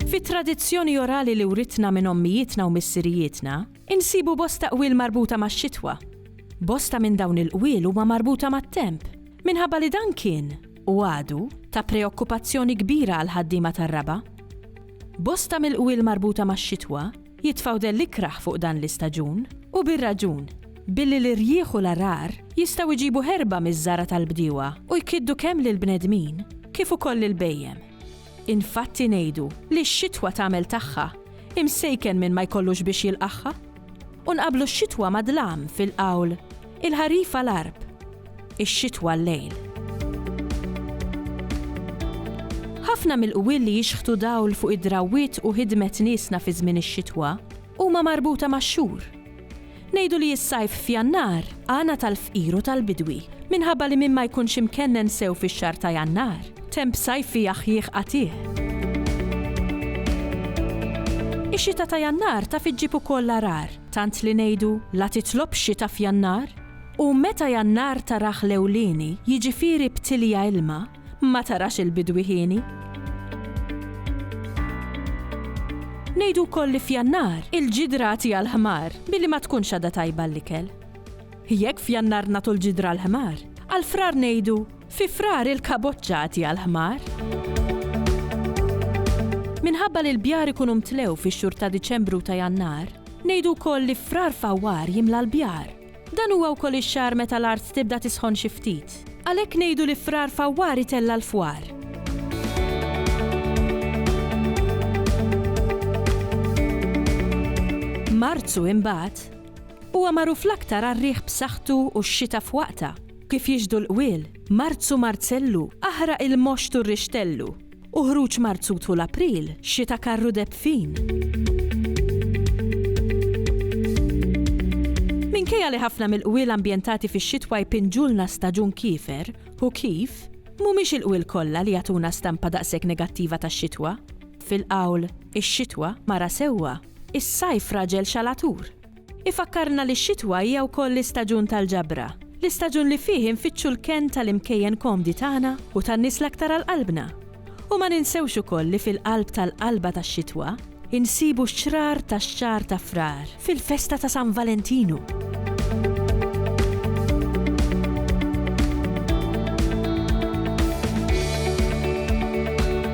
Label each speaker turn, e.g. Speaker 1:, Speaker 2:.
Speaker 1: Fit-tradizzjoni orali li writna minn ommijietna u missirijietna, insibu bosta qwiel marbuta max-xitwa. Bosta minn dawn il-qwiel huma marbuta mat-temp, minħabba li dan kien, u għadu ta' preokkupazzjoni kbira għall-ħaddiema tar-raba'. Bosta mill-qwiel marbuta max-xitwa jitfgħu dell ikrah fuq dan l-istaġun, u bir-raġun, billi l-irjieħ u l-għargħar jistgħu jġibu ħerba miż-żargħa tal-bdiewa u jkiddu kemm lill-bnedmin kif ukoll lill-bhejjem. Infatti ngħidu li x-xitwa tagħmel tagħha, imsejken min ma jkollux biex jilqagħha. U nqabblu x-xitwa mad-dlam fil-qawl, il-ħarif għal-għarb, ix-xitwa għal-lejl. Ħafna mill-qwiel li jixħtu dawl fuq id-drawwiet u ħidmet niesna fi żmien ix-xitwa, Huma marbuta max-xhur. Ngħidu li s-sajf f'Jannar għana tal-fqir u tal-bidwi, minħabba li min ma jkunx imkennen sew fix-xahar ta' Jannar, temp sajfi jaħjih qatiegħ. Ix-xita ta' Jannar taf iġġib ukoll l-għarar, tant li ngħidu, la titlobx xita f'Jannar? U meta Jannar tarah l-ewlieni, jiġifieri b'tilja ilma, ma tarax il-bidwi hieni. Ngħidu wkoll li f'Jannar il-ġidra għati għall-ħmar billi ma tkunx għadha tajba l-ikel. Jekk f'Jannar nagħtu l-ġidra għall-ħmar, għal Frar ngħidu fi Frar il-kaboċċa għati għall-ħmar. Minħabba li l-bjar ikunu mtlew fix-xhur ta' Diċembru ta' Jannar, ngħidu wkoll li frar fawwar jimla l-bjar Dan huwa wkoll ix-xahar meta l-art tibda tisħon xi ftit. Għalhekk ngħidu li Frar Fawwar itella' l-fwar. Marzu imbagħad, huwa magħruf l-aktar għar-riħ b'saħħtu u x-xita f'waqtha. Kif jixhdu l-qwiel, Marzu Marzellu aħraq il-moxt u r-rixtellu. U ħruġ Marzu tul April, xita karru deb fin. Minkejja li ħafna mill-qwiel ambjentati fix-xitwa jpinġulna staġun kiefer, u kif, mhumiex il-qwiel kollha li jagħtuna stampa daqshekk negattiva tax-xitwa. Fil-qawl, Ix-xitwa, mara sewwa, is-sajf raġel xalatur. Ifakkarna li x-xitwa hija wkoll l-istaġun tal-ġabra, l-istaġun li fih infittxu l-kenn tal-imkejjen komdi tagħna u tan-nies l-aktar għal qalbna. U ma ninsewx ukoll li fil-qalb tal-qalba tax-xitwa, insibu x-xrar tax-xahar ta' Frar, fil-festa ta' San Valentinu.